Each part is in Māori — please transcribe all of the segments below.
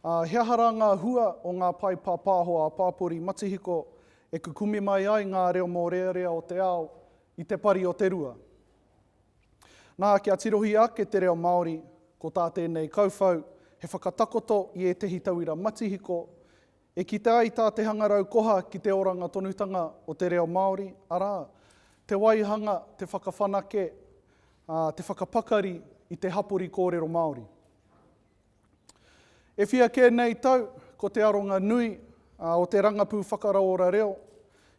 Ā, he aha rā ngā hua o ngā pae pāpāho ā-pāpori matihiko e kukume mai ai ngā reo mōrearea o te ao i te pari o te rua? Nā, kia tirohia ake te reo Māori, ko tā tēnei kauwhau, he whakatakoto i ētehi tauira matihiko E kite ai tā te hangarau koha ki te oranga tonutanga o te reo Māori, arā, te waihanga, te whakawhanake, ā, te whakapakari i te hapori kōrero Māori. E whia kē nei tau, ko te aronga nui o te rangapū whakarauora reo,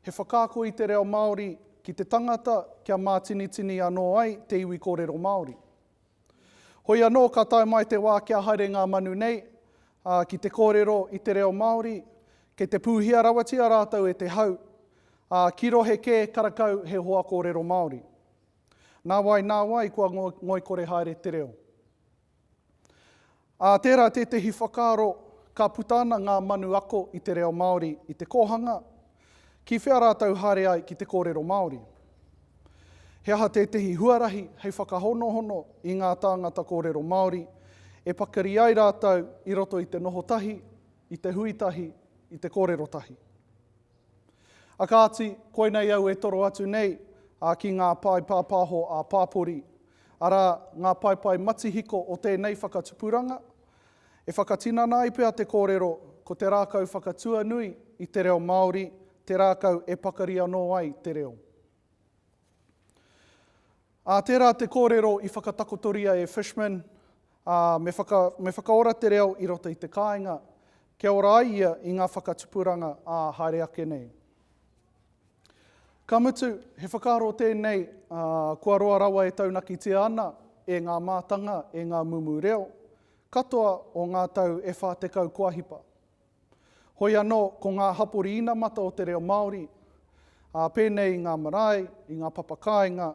he whakaako i te reo Māori ki te tangata kia mātinitini anō ai te iwi kōrero Māori. Hoi anō ka tae mai te wā kia haere ngā manu nei, ā, ki te kōrero i te reo Māori, kei te pūhia rawatia rātou e te hau, ā, ki rohe kē karakau he hoa kōrero Māori. Nā wai, nā wai kua ngoikore haere te reo. Ā, tērā tētehi whakaaro, ka puta ana ngā manu ako i te reo Māori i te kōhanga, ki whea rātou haere ai ki te kōrero Māori? He aha tētehi huarahi hei whakahonohono i ngā tāngata kōrero Māori, e pakari ai rātou i roto i te noho tahi, i te hui tahi, i te kōrero tahi? A kāti, koinei au e toro atu nei, ā, ki ngā pae pāpāho ā-pāpori, arā, ngā paepae matihiko o tēnei whakatupuranga. E whakatinana ai pea te kōrero, ko te rākau whakatuanui i te reo Māori te rākau e pakari anō ai te reo. Ā, tērā te kōrero i whakatakotoria e Fishman, ā, me, me whakaora te reo i roto i te kāinga, kia ora ai ia i ngā whakatupuranga, ā, haere ake nei. Ka mutu, he whakaaro tēnei, ā, kua roa rawa e taunakitia ana e ngā mātanga, e ngā mumu reo, katoa o ngā tau e whā tekau kua hipa. Hoi anō, ko ngā hapori inamata o te reo Māori, ā, pēnei i ngā marae, i ngā papakāinga,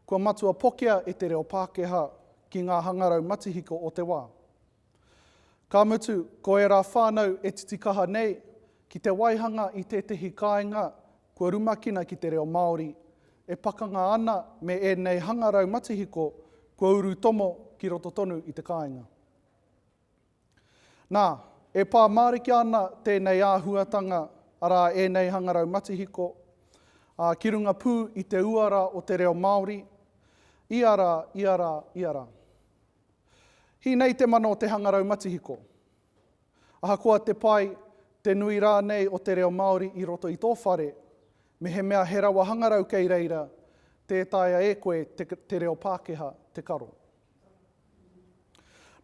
kua matua pokea e te reo Pākehā ki ngā hangarau matihiko o te wā. Ka mutu, ko ērā whānau e titikaha nei ki te waihanga i tētehi kāinga kua rumakina ki te reo Māori, e pakanga ana me ēnei hangarau matihiko kua urutomo ki roto tonu i te kāinga. Nā, e pā mārika ana tēnei āhuatanga, arā ēnei hangarau matihiko, ā, ki runga pū i te uara o te reo Māori, ia rā, ia rā, ia rā. Hī nei te mana o te hangarau matihiko. Ahakoa te pai, te nui rānei o te reo Māori i roto i tō whare, mehemea he rawa hangarau kei reira, tē taea e koe te, te reo Pākehā te karo.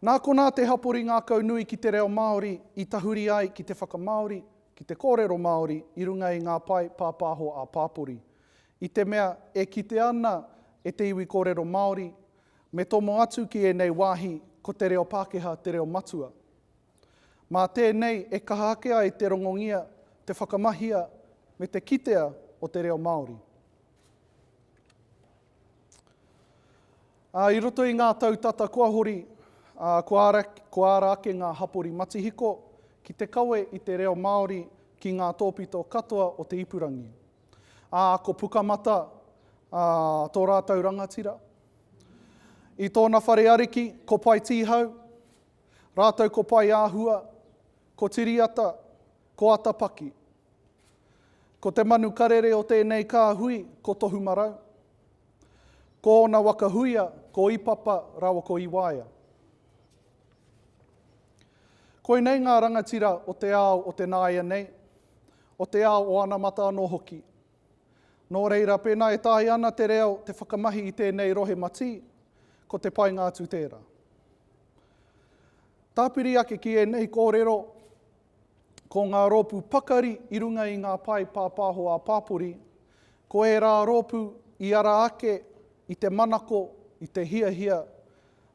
Nā konā te hapori ngākau nui ki te reo Māori i tahuri ai ki te whakamāori, ki te kōrero Māori i runga i ngā pae pāpāho ā-pāpori. I te mea e kitea ana e te iwi kōrero Māori, me tomo atu ki ēnei wāhi ko te reo Pākehā te reo matua. Mā tēnei e kaha ake ai te rongongia, te whakamahia me te kitea o te reo Māori. Ā, i roto i ngā tau tata kua hori, ā, kua ara, kua ara ake ngā hapori matihiko ki te kawe i te reo Māori ki ngā tōpito katoa o te ipurangi. Ā, ko Pukamata, ā, tō rātou rangatira. I tōna whare ariki, ko Paetihau, rātou ko Paeāhua, ko Tiriata, ko Atapaki. Ko te manu karere o tēnei kāhui ko Tohumarau. Ko ōna waka huia ko Ipapa rawa ko Iwaea. Koinei ngā rangatira o te ao o te nāianei, o te ao o anamata anō hoki. Nō reira, pēnā e taea ana te reo te whakamahi i tēnei rohe matī, ko te painga atu tērā. Tāpiri ake ki ēnei kōrero, Ko ngā rōpū pakari i runga i ngā pae pāpāho ā-pāpori, ko ērā rōpū i ara ake i te manako, i te hiahia,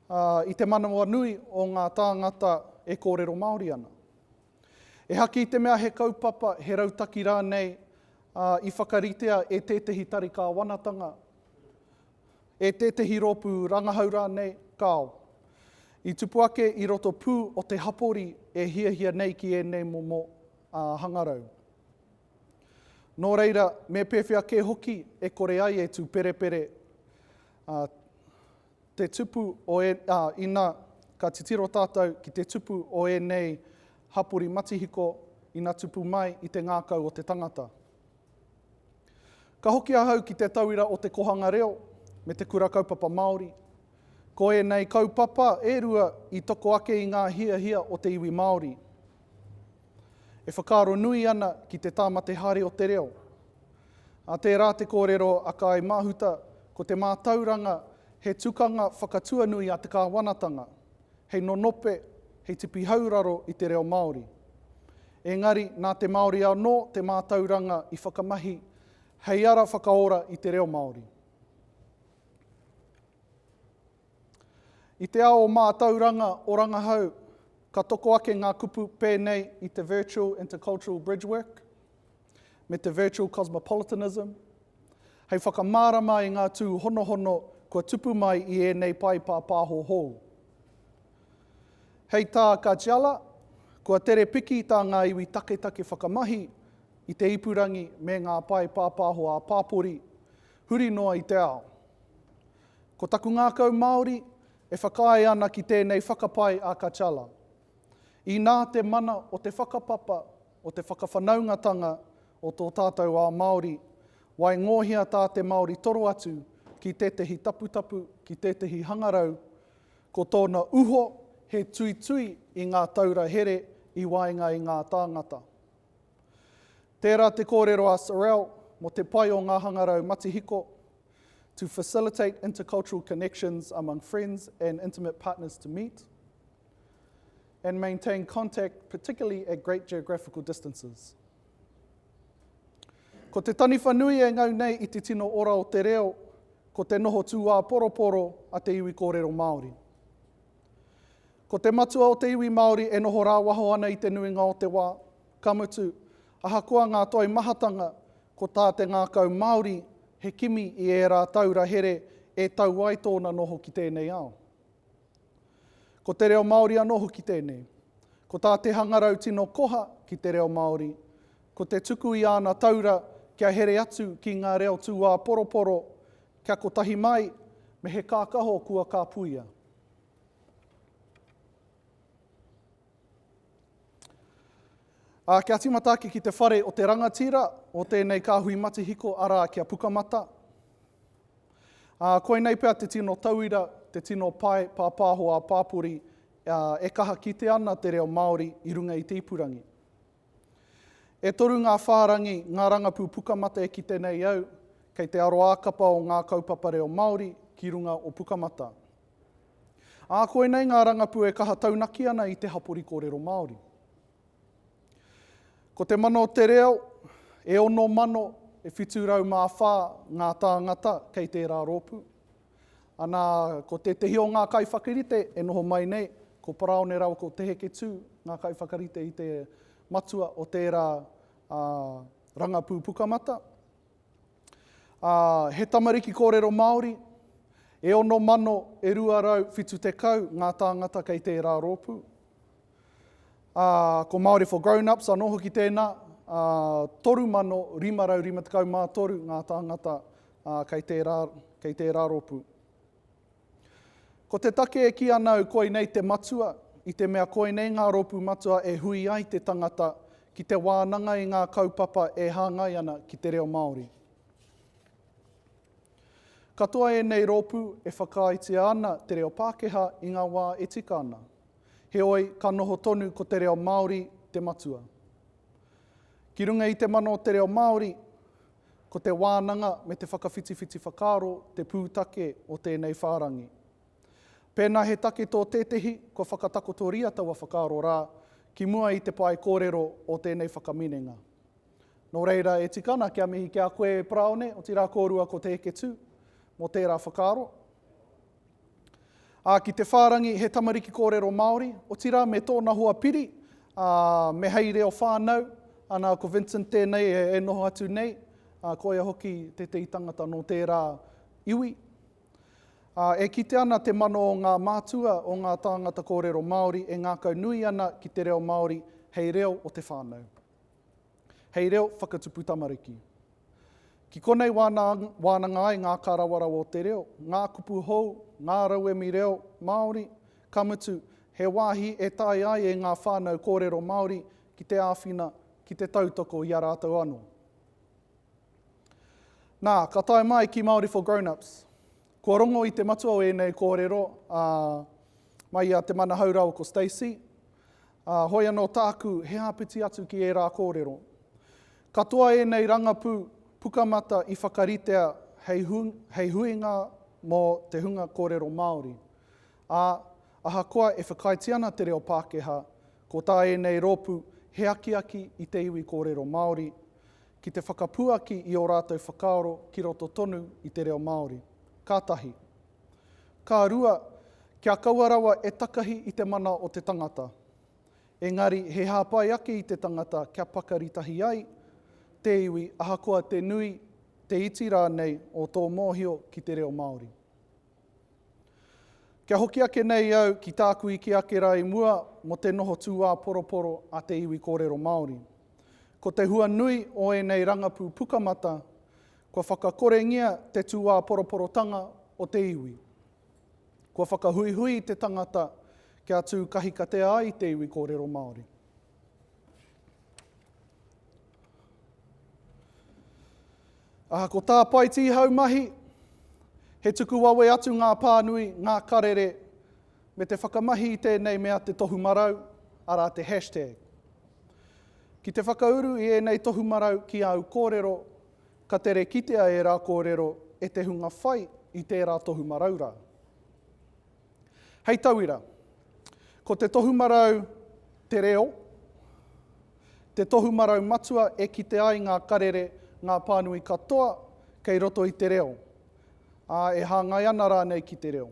ā, i te manawanui o ngā tāngata e kōrero Māori ana. Ehaki i te mea he kaupapa, he rautaki rānei, ā, i whakaritea e tētehi tari kāwanatanga, e tētehi rōpū rangahau rānei, kāo. I tupu ake i roto pū o te hapori e hiahia nei ki ēnei momo hangarau. Nō reira, me pēwhea kē hoki e kore ai e tūperepere te tupu o e, ā, ina ka titiro tātou ki te tupu o ēnei hapori matihiko ina tupu mai i te ngākau o te tangata. Ka hoki ahau ki te tauira o te Kohanga Reo me te Kura Kaupapa Māori. Ko ēnei kaupapa e rua i toko ake i ngā hiahia o te iwi Māori. E whakaaro nui ana ki te tāmate haere o te reo. Ā tērā te kōrero a Kāi Mahuta ko te mātauranga he tukanga whakatuanui a te kāwanatanga, hei nonope, hei tipi hauraro i te reo Māori. Engari, nā te Māori anō te mātauranga i whakamahi hei ara whakaora i te reo Māori. I te ao o mātauranga o rangahau, ka toko ake ngā kupu pēnei i te Virtual Intercultural Bridgework me te Virtual Cosmopolitanism, Hei whakamārama i ngā tūhonohono kua tupu mai i ēnei pae pāpāho hou. Hei tā Kajala, kua tere piki tā ngā iwi taketake whakamahi i te ipurangi me ngā pae pāpāho ā-pāpori huri noa i te ao. Ko taku ngākau Māori e whakaae ana ki tēnei whakapae a Kajala. Inā te mana o te whakapapa o te whakawhanaungatanga o tō tātou ao Māori, waingōhia tā te Māori toro atu ki tētehi taputapu, ki tētehi hangarau, ko tōna uho he tuitui i ngā taura here i waenga i ngā tāngata. Tērā te kōrero a Sorrell mō te pai o ngā hangarau matihiko, to facilitate intercultural connections among friends and intimate partners to meet, and maintain contact, particularly at great geographical distances. Ko te taniwha nui e ngau nei i te tino ora o te reo, ko te noho tūāporoporo a te iwi kōrero Māori. Ko te matua o te iwi Māori e noho rāwaho ana i te nuinga o te wā, ka mutu, ahakoa ngā toi mahatanga, ko tā te ngākau Māori he kimi i ērā taura here e tau ai tōna noho ki tēnei ao. Ko te reo Māori anō hoki tēnei. Ko tā te hangarau tino koha ki te reo Māori, ko te tuku i āna taura kia here atu ki ngā reo tūāporoporo, kia kotahi mai me he kākaho kua kāpuia. Ā, kia tīmata ake ki te whare o te rangatira o tēnei kāhui matihiko, arā, ki a Pukamata. Ā, koinei pea te tino tauira, te tino pae pāpāho ā-pāpori, ā, e kaha kite ana te reo Māori i runga i te ipurangi. E toru ngā whārangi, ngā rangapū Pukamata e kite nei au, kei te aroākapa o ngā kaupapa reo Māori ki runga o Pukamata. Ā, koinei ngā rangapū e kaha taunaki ana i te hapori kōrero Māori. Ko te mana o te reo, e ono mano, e whitu rau mā whā ngā tāngata kei tērā rōpū. Anā, ko tētehi o ngā kaiwhakarite e noho mai nei, ko Paraone rawa ko Te Heketū ngā kaiwhakarite i te matua o tērā rangapū pukamata. Ā, he tamariki kōrero Māori, e ono mano e rua rau whitu tekau ngā tāngata kei tērā rōpū. Ā, ko Māori for Grown-ups anō hoki tēnā, ā, toru mano rima rau rima tekau mā toru ngā tāngata, ā, kei tērā, kei tērā rōpū. Ko te take e kī ana au koinei te matua, i te mea koinei ngā rōpū matua e hui ai te tangata ki te wānanga i ngā kaupapa e hāngai ana ki te reo Māori. Katoa ēnei rōpū e whakaaetia ana te reo Pākehā i ngā wā e tika ana. Heoi, ka noho tonu ko te reo Māori te matua. Ki runga i te mana o te reo Māori, Ko te wānanga me te whakawhitiwhiti whakaaro te pūtake o tēnei whārangi. Pēnā he take tō tētehi, kua whakatakotoria taua whakaaro rā ki mua i te pae kōrero o tēnei whakaminenga. Nō reira, e tika ana kia mihi ki a koe, Paraone, otirā kōrua ko Te Heketu, mō tērā whakaaro. Ā, ki te whārangi he tamariki kōrero Māori, otirā me tōna hoa piri, ā, me hei reo whānau, ana, ko Vincent tēnei e noho atu nei, ā, ko ia hoki tētehi tangata nō tērā iwi. Ā, e kite ana te mano o ngā mātua, o ngā tāngata kōrero Māori e ngākaunui ana ki te reo Māori hei reo o te whānau. hei reo whakatupu tamariki. Ki konei wāna wānanga ai ngā kārawarawa o te reo, ngā kupu hou, ngā rauemi reo Māori, ka mutu, he wāhi e tae ai e ngā whānau kōrero Māori ki te āwhina, ki te tautoko i a rātou anō. Nā, ka tae mai ki Māori for Grownups. Kua rongo i te matua o ēnei kōrero, ā, mai i a Te Manahaurau ko Stacey, Ā, hoi anō tāku he āpiti atu ki ērā kōrero. Katoa ēnei rangapū Pukamata i whakaritea hei, hei huinga mō te hunga kōrero Māori, ā, ahakoa e whakaaetia ana te reo Pākehā, ko tā ēnei rōpū he akiaki i te iwi kōrero Māori, ki te whakapuaki i ō rātou whakaaro ki roto tonu i te reo Māori. Ka tahi. Ka rua, kia kaua rawa e takahi i te mana o te tangata. Engari, he hāpai ake i te tangata kia pakari tahi ai te iwi ahakoa te nui, te iti rānei o tō mōhio ki te reo Māori. Kia hoki ake nei au ki tāku ike ake rā i mua mō te noho tūāporoporo a te iwi kōrero Māori. Ko te hua nui o ēnei rangapū pukamata, Kua whakakorengia te tūāporoporotanga o te iwi. Kua whakahuihui te tangata kia tū kahikatea ai te iwi kōrero Māori. Aha ko tā Paiti haumahi, he tuku wawe atu ngā pānui, ngā karere, me te whakamahi i tēnei mea te tohu marau, arā te hashtag. Ki te whakauru i ēnei tohu marau ki āu kōrero, Ka tere kitea ērā kōrero e te hunga whai i tērā tohumarau rā. Hei tauira, ko te tohumarau Te Reo te tohumarau matua e kite ai ngā karere, ngā pānui katoa kei roto i te reo, ā, e hāngai ana rānei ki te reo.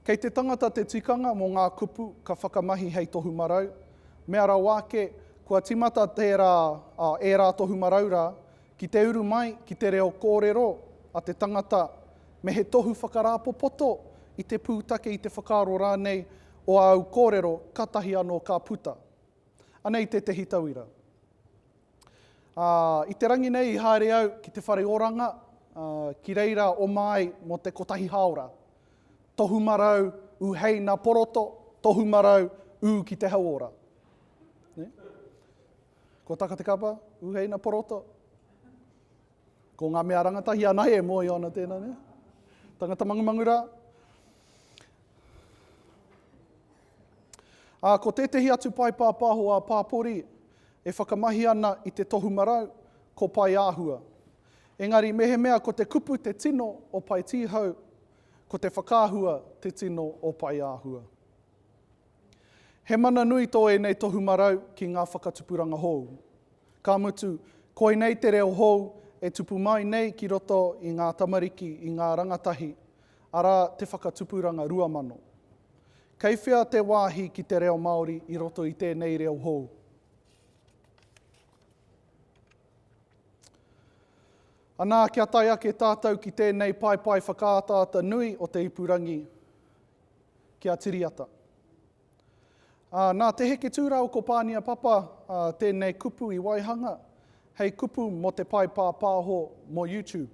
Kei te tangata te tikanga mō ngā kupu ka whakamahi hei tohu marau, mea rawa ake, kua tīmata tērā, ā, ērā tohu marau rā, ki te uru mai ki te reo kōrero a te tangata me he tohu whakarāpopoto i te pūtake, i te whakaaro rānei o āu kōrero, kātahi anō ka puta. Anei tētehi tauira. Ā, i te rangi nei i haere au ki te whare oranga, ā, ki reira oma ai mō te kotahi hāora. Tohu marau ū hei nā poroto, tohu marau ū ki te hauora. Nē? Kua taka te kapa, ū hei nā poroto? Ko ngā mea rangatahi anahe e mōhio ana tēnā, nē? Tangata mangumangu rā. Ā, ko tētehi atu paepāpāho a Pāpori e whakamahi ana i te tohu marau, ko Paeāhua. Engari mehemea ko te kupu te tino o Paetīhau, ko te whakaahua te tino o Paeāhua. He mana nui tō ēnei tohu marau ki ngā whakatupuranga hou. Ka mutu, koinei te reo hou e tupu mai nei ki roto i ngā tamariki i ngā rangatahi, arā te whakatupuranga rua mano. Kei whea te wāhi ki te reo Māori i roto i tēnei reo hou? Anā, kia tae ake tātou ki tēnei paepae whakaataata nui o te ipurangi, ki a Tiriata. Ā, nā Te Heke Tūrāua ko Pānia Papa tēnei kupu i waihanga hei kupu mō te pae pāpāho mō YouTube.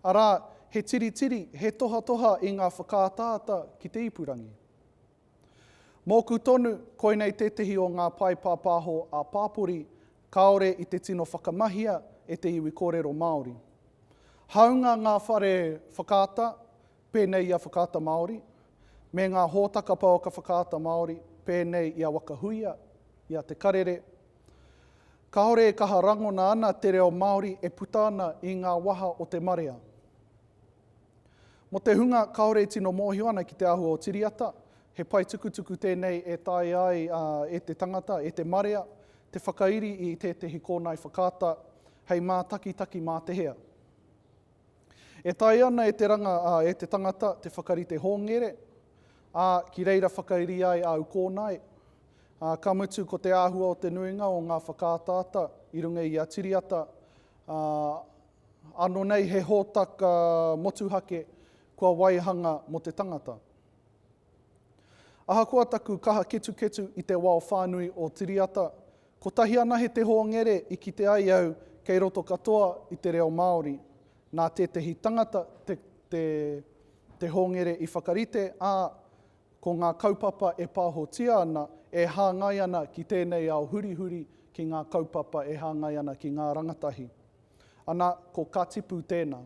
Arā, he tiritiri, he tohatoha i ngā whakaataata ki te ipurangi. Mōku tonu, koinei tētehi o ngā pae pāpāho ā-pāpori kāore i te tino whakamahia e te iwi kōrero Māori. Hāunga ngā whare whakaata, pēnei i a Whakaata Māori, me ngā hōtaka pouaka Whakaata Māori, pēnei i a Waka Huia, i a Te Karere. Kāore e kaha rangona ana te reo Māori e puta ana i ngā waha o te marea. Mō te hunga kāore e tino mōhio ana ki te āhua o Tiriata, he paetukutuku tēnei e taea ai e te tangata, e te marea, te whakairi i tētehi kōnae whakaata hei mātakitaki mā te hea. E taea ana e te ranga, ā, e te tangata te whakarite hōngere, ā, ki reira whakairia ai āu kōnae, ā, ka mutu ko te āhua o te nuinga o ngā whakaataata i runga i a Tiriata, ā, ānō nei he hōtaka motuhake kua waihanga mō te tangata. Ahakoa taku kaha ketuketu i te wao whānui o Tiriata, kotahi anahe te hōngere i kite ai au kei roto katoa i te reo Māori. Nā tētehi tangata te, te, te hōngere i whakarite, ā, ko ngā kaupapa e pāhotia ana, e hāngai ana ki tēnei ao hurihuri, ki ngā kaupapa e hāngai ana ki ngā rangatahi. Ana, ko ka tipu tēnā.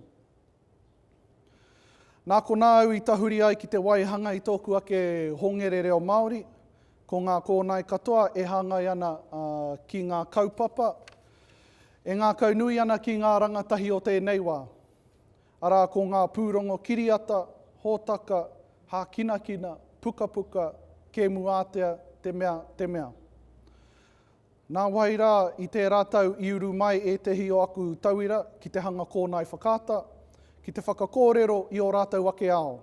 Nā konā au i tahuri ai ki te waihanga i tōku ake hongere reo Māori, ko ngā kōnae katoa e hāngai ana ki ngā kaupapa e ngākaunui ana ki ngā rangatahi o tēnei wā, arā ko ngā pūrongo kiriata, hōtaka, hākinakina, pukapuka, kēmu ātea, te mea, te mea. Nāwai rā, i tērā tau i uru mai ētehi o aku tauira ki te hanga kōnae whakaata, ki te whakakōrero i ō rātou ake ao,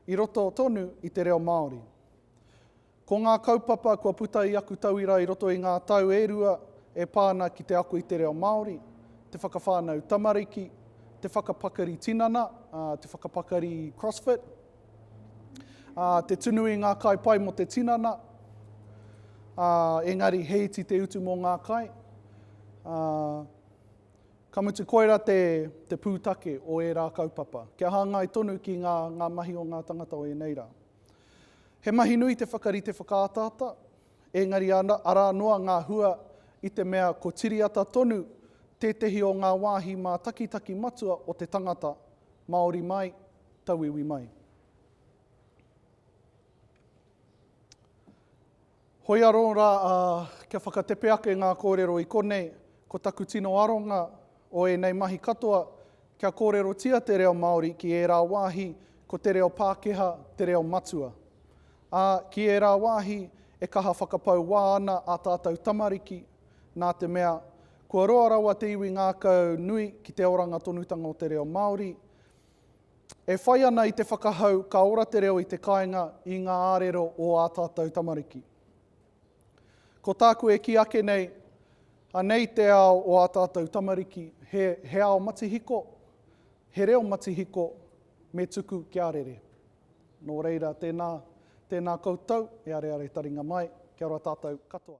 i roto tonu i te reo Māori. Ko ngā kaupapa kua puta i aku tauira i roto i ngā tau e rua e pā ana ki te ako i te reo Māori, te whakawhānau tamariki, te whakapakari tinana, te whakapakari CrossFit, Ā, te tunu i ngā kai pai mō te tinana, ā, engari he iti te utu mō ngā kai, ā, ka mutu koirā te, te pūtake o ērā kaupapa, kia hāngai tonu ki ngā, ngā mahi o ngā tangata o ēnei rā. He mahi nui te whakarite whakaataata, engari ana, arā noa ngā hua i te mea ko Tiriata tonu tētehi o ngā wāhi mātakitaki matua o te tangata, Māori mai, tauiwi mai. Hoi anō rā, ā, kia whakatepe ake ngā kōrero i konei, ko taku tino aronga o ēnei mahi katoa, kia kōrerotia te reo Māori ki ērā wāhi ko te reo Pākehā te reo matua. Ā, ki ērā wāhi e kaha whakapau wā ana ā tātou tamariki, nā te mea, kua roa rawa te iwi ngākau nui ki te oranga tonutanga o te reo Māori, E whai ana i te whakahau ka ora te reo i te kāinga i ngā ārero o ā tātou tamariki. Ko tāku e kī ake nei, anei te ao o ā tātou tamariki, he, he ao matihiko, he reo matihiko, me tuku kia rere. Nō reira, tēnā, tēnā koutou e areare taringa mai. Kia ora tātou katoa.